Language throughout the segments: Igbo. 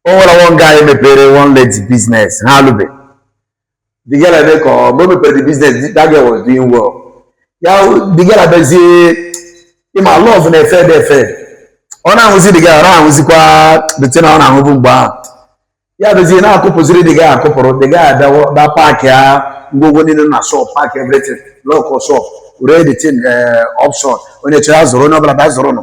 o nwere nwa nga anyị mepere one lady business ha alụbe the girl ebe ka ọ mgbe o mepere the business that girl was doing well ya the girl abezie ị ma love na-efe ebe efe ọ na-ahụzi the girl ọ na-ahụzikwa the thing ọ na-ahụbu mgbe ahụ ya bezie na-akụpụziri the girl akụpụrụ the girl abịawo na pack ya ngwongwo niile na shop pack everything lock shop ree the thing auction onye chọrọ azụrụ onye ọbụla bịa zụrụ nụ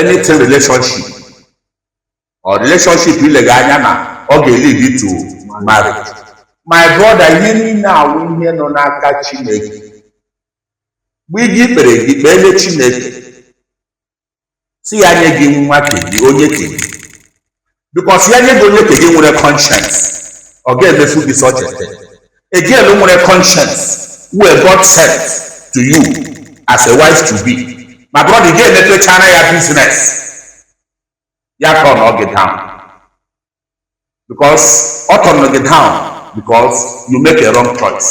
anything relationship or relationship ị lega anya na ọ ga-elead to marriage my brother ihe niile a wụ ihe nọ n'aka chineke mgbe ị ga-ekpere gị kpeele chineke sị ya nye gị nwunye nke gị onye nke gị because ya nye gị onye nke gị nwere conscience ọ ga-emefu gị such a thing a girl nwere conscience wey God sent to you as a wife to be my brother ị ga-emepechara ya business ya turnọọ gị down because ọ turnọrọ gị down because you make a wrong choice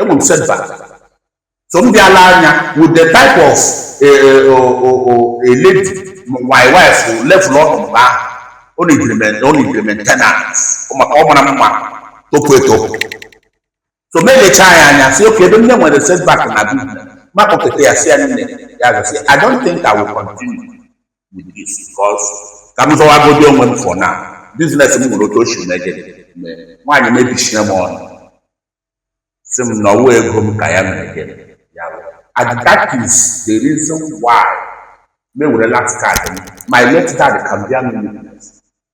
enwee m setback so m bịa lee anya with the type of a eh, eh, oh, oh, oh, a lady my wife level ọ nọ mgbe ahụ ọ na-ejiri ọ na-ejiri maintenance maka ọ mara mma topu etopu so m elecha ya anya sị okay ebe m nwere setback na bi m akpọketa ya sị ya nne ya gasị I don't think I will continue with this because ka m zọwagodi onwe m for now business m nwere otu o si mege nwaanyị mebisina m ọnụ sị m na ọ wụ ego m ka ya mege ya and that is the reason why me were last card my late dad can bear me witness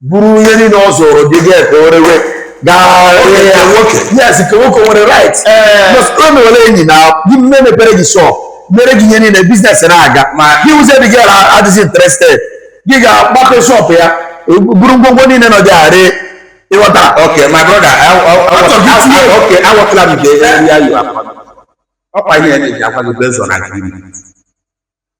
buru ihe niile ọ zụrụ gị ga ka o rewe yes nke nwoke nwere right o mewere enyi na gị mme mepere gị shop mere gị ihe niile business na-aga ma gị wụzie dị gị adịghị interested gị gaa gbape shop ya buru ngwongwo niile nọ gị arị ị ghọta okay my brother okay awọtala m nke ya yi akwa ọkwa ihe na-eji akwa gị bezọ na gị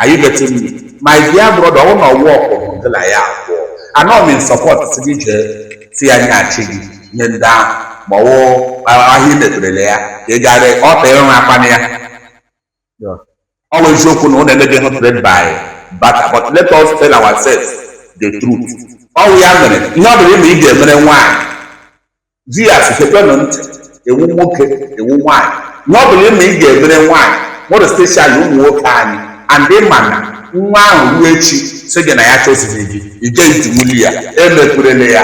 are you getting me my dear brother ọ wụ na ọ wụ ọkụrụ gị na ya abụọ anọ m in support sị gị jee sị ya nyeachi gị ihe ndị ahụ ma ọ wụ ahịa i meperele ya ka ị gara ọ ta ịrụ akpana ya ọ wụ eziokwu na unu emeghị hụ trade by barter but let us tell ourselves the truth ọ wụ ya mere ihe ọ bụla ị ma ị ga-emere nwaanyị di ya si chekwenụ ntị ị wụ nwoke ị wụ nwaanyị ihe ọ bụla ịma ị ga-emere nwaanyị more especially ụmụ nwoke anyị and ị ma na nwa ahụ ruo echi sị gị na ya achọzighị gị ike itinwuli ya emekwurela ya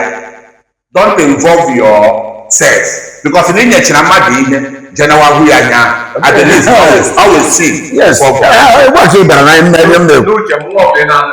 don't involve yourself because na ị nyechara mmadụ ihe jenawa hụ ya anya at the least always always see yes for- eh, eh, ụbọchị ị bara na ime ebe m na-ekwu n'uche m nwa ọbụla na-anụ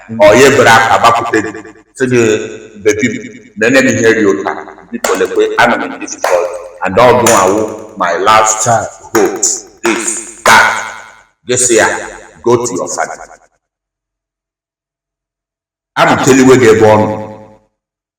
ọ ya eburu akpa gbakwute gị sị gị bebi m nyenụ m ihe ri ụta biko lekwe ana m difficult and ọ gị wụ my last child hope this that gị asị ya go to your father amụteliwe gị ebe ọ nọ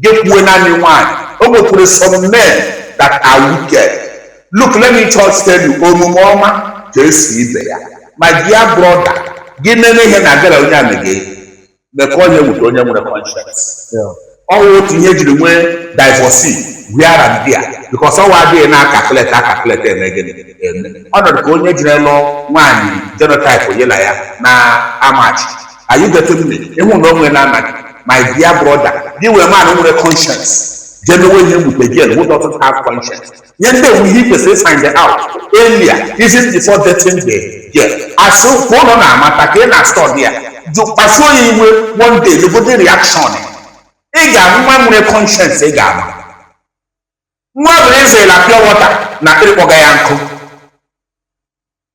Gekwue naanị nwaanyị. O nwekwuru some men that are wicked. Look, let me just tell you, omume ọma ka esi ibe ya. My dear brother, gị na-eme ihe na-agara onye a mege me ka ọ na-ewute onye nwere conscience. Yeah. Ọ bụ otu ihe jiri nwee divorce here and there because ọwa adịghị na-acalculate acalculate eme gịnị eme. Ọ nọrọ ka onye jiri lụọ nwaanyị genotype ya la ya na-amatch are you getting me ịhụ na onwe na anaghị my dear brother gị wee man nwere conscience jee mewe ihe mgbe a girl who doesn't have conscience ihe ndị a wụ ihe i kwesịrị ifind out earlier even before dating the girl asụ ka ụlọ na-amata ka ị na-study ya jụ kpasuo ya iwe one day legodi reaction ị ga-ahụ nwa nwere conscience ị ga-ama nwa bụrụ ịzụla pure water na akpịrị kpọga ya nkụ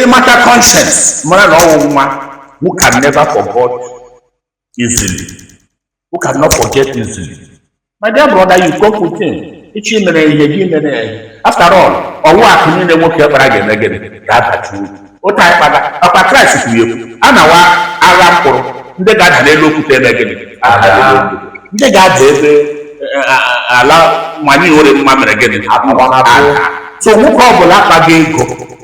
ị mata conscience mara na ọwụ nwa who can never forget easily who cannot forget easily my dear brother you go put in ị chọọ imere ihe gị mere ya ihe after all ọwụ akụ niile nwoke kpara ga-eme gịnị ga-abachi uru otu anyị kpata ọkwa Kraịst kwuru ekwu a na-awa agha mkpụrụ ndị ga-ada n'elu okwute eme gịnị ndị ga-ada ebe ala nwanyị nwere mma mere gịnị so nwoke ọ bụla kpaga ego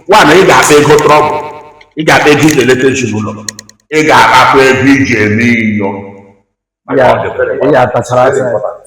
mara na ị ga-akpa ego trouble ị ga-akpa ego iji eleta ezinụlọ ị ga-akpakwa ego iji eme inyo maka ọ dị very important. ya tachara Very asa important.